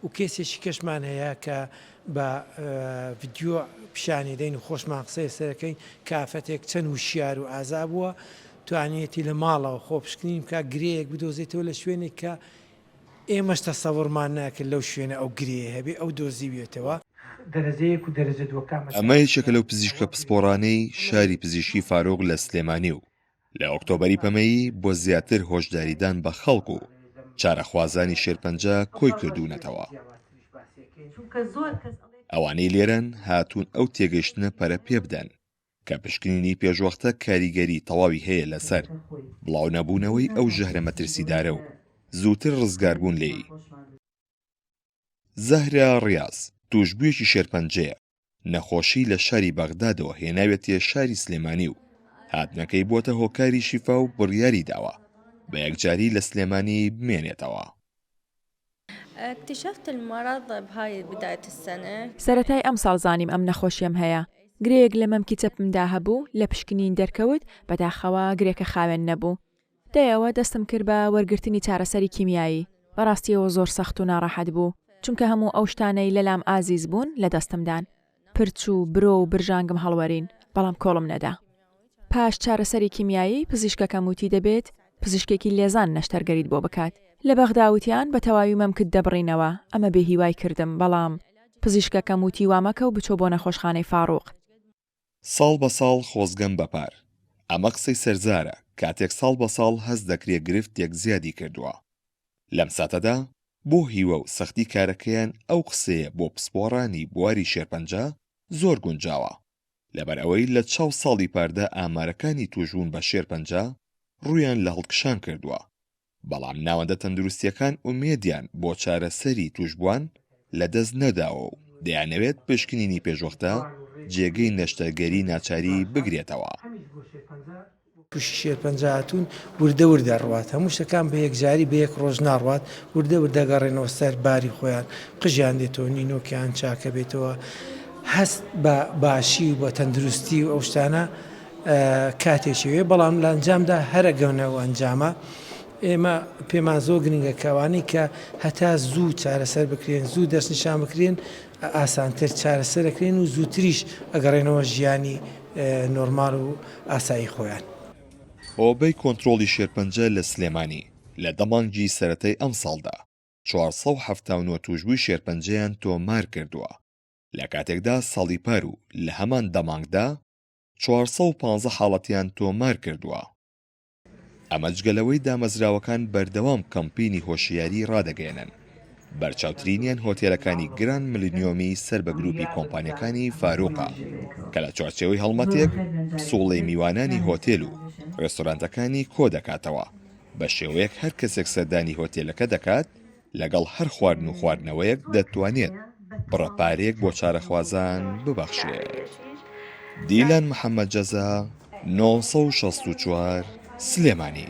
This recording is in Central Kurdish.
و کەیسێکی کەشمان هەیە کە بە ڤیدیۆ پیشانی دەین و خۆشمان قسەی لەسەر دەکەین کە ئافرەتێک چەند وشیار و ئازا بووە توانیویەتی لە ماڵەوە خۆپشکنین بکات گرێیەک بدۆزێتەوە لە شوێنێک کە ئێمەش تەسەورمان ناکرد لەو شوێنە ئەو گرێیە هەبێ ئەو دۆزیویەتەوە. ئەمە یەکێکە لەو پزیشکە پسپۆڕانەی شاری پزیشکی فاروق لە سلێمانی و لە ئۆکتۆبەری پەمەیی بۆ زیاتر هۆشداریدان بە خەڵک و چارەخوازانی شێرپەنجە کۆی کردوونەتەوە. ئەوانەی لێرەن هاتوون ئەو تێگەشتنە پەرە پێ بدەن کە پشکنینی پێشوەختە کاریگەری تەواوی هەیە لەسەر بڵاو نەبوونەوەی ئەو ژەهرە مەترسیدارە و زووتر ڕزگاربوون لێی. زەهرا ڕیاز، تووشبوویەکی شێرپەنجەیە، نەخۆشی لە شاری بەغدادەوە هێناوێتیە شاری سلێمانی و هاتنەکەی بووەتە هۆکاری شیفا و بڕیاری داوە بە یەکجاری لە سلێمانی بمێنێتەوە. سەرەتای ئەمساڵ زانیم ئەم نەخۆشیەم هەیە، گرێیەک لە مەمکی چەپمدا هەبوو لە پشکنین دەرکەوت، بەداخەوە گرێکە خاوێن نەبوو، دەیەوە دەستم کرد بە وەرگرتنی چارەسەری کیمیایی، بە ڕاستییەوە زۆر سەخت و ناڕەحەت بوو، چونکە هەموو ئەو شتانەی لەلام ئازیز بوون لە دەستم دان. پرچ و برۆ و برژانگم هەڵوەرین، بەڵام کۆڵم نەدا. پاش چارەسەری کیمیایی، پزیشکەکەم وتی دەبێت پزیشکێکی لێزان نەشتەرگەریت بۆ بکات. لە بەغدا وتیان بە تەواوی مەمکت دەبڕینەوە، ئەمە بێهیوای کردم، بەڵام پزیشکەکەم وتی وامەکە و بچۆ بۆ نەخۆشخانەی فاڕوق. ساڵ بە ساڵ خۆزگەم بە پار. ئەمە قسەی سەرزارە، کاتێک ساڵ بە ساڵ هەست دەکرێ گرفتێک زیادی کردووە. لەم ساتەدا بۆ هیوا و سەختی کارەکەیان ئەو قسەیە بۆ پسپۆڕانی بواری شێرپەنجە زۆر گونجاوە، لەبەر ئەوەی لە چاو ساڵی پاردا ئامارەکانی تووشبوون بە شێرپەنجە ڕوویان لە هەڵکشان کردووە. بەڵام ناوەندە تەندروستییەکان ئومێدیان بۆ چارەسەری تووشبووان لەدەست نەداوە و دەیانەوێت پشکنینی پێشوەختە جێگەی نەشتەرگەری ناچاری بگرێتەوە. پشکی شێرپەنجە هاتوون وردە وردە ئەڕوات، هەموو شتەکان بە یەکجاری بە یەک ڕۆژ ناڕوات، وردە وردە ئەگەڕێنەوە سەر باری خۆیان، قژیان دێتەوە، نینۆکیان چاکەبێتەوە، هەست بە باشی و بە تەندروستی و ئەو شتانە. کاتێکی وێ بەڵام لە ئەنجامدا هەرە گەونە و ئەنجامە ئێمە پێمان زۆر گرنگە کەوانی کە هەتا زوو چارەسەر بکرێن زوو دەستنیشان بکرێن ئاسانتر چارەسەرەکرێن و زووتریش ئەگەڕێنەوە ژیانی نۆرمال و ئاسایی خۆیان. هۆبەی کۆنترۆڵی شێرپەنجە لە سلێمانی لە دە مانگی سەرەتای ئەمساڵدا چوار سەد و حەفتا و نۆ تووشبووی شێرپەنجەیان تۆمارکردووە، لەکاتێکدا ساڵی پار و لە هەمان دە مانگدا 415 حاڵەتیان تۆمار کردووە. ئەمە جگە لەوەی دامەزراوەکان بەردەوام کەمپینی هۆشیاری ڕادەگەیەنن. بەرچاوترینیان هۆتێلەکانی گراند ملنیۆمی سەر بە گروپی کۆمپانیەکانی فاروقە کە لە چوارچێوەی هەڵمەتێک پسوڵەی میوانانی هۆتێل و ڕێستۆرانتەکانی کۆدەکاتەوە بە شێوەیەک هەر کەسێک سەردانی هۆتێلەکە دەکات لەگەڵ هەر خواردن و خواردنەوەیەک دەتوانێت بڕە پارەیەک بۆ چارەخوازان ببەخشێت. دیلان محەممەد جەزا، نۆ سەد و شەست و چوار، سلێمانی.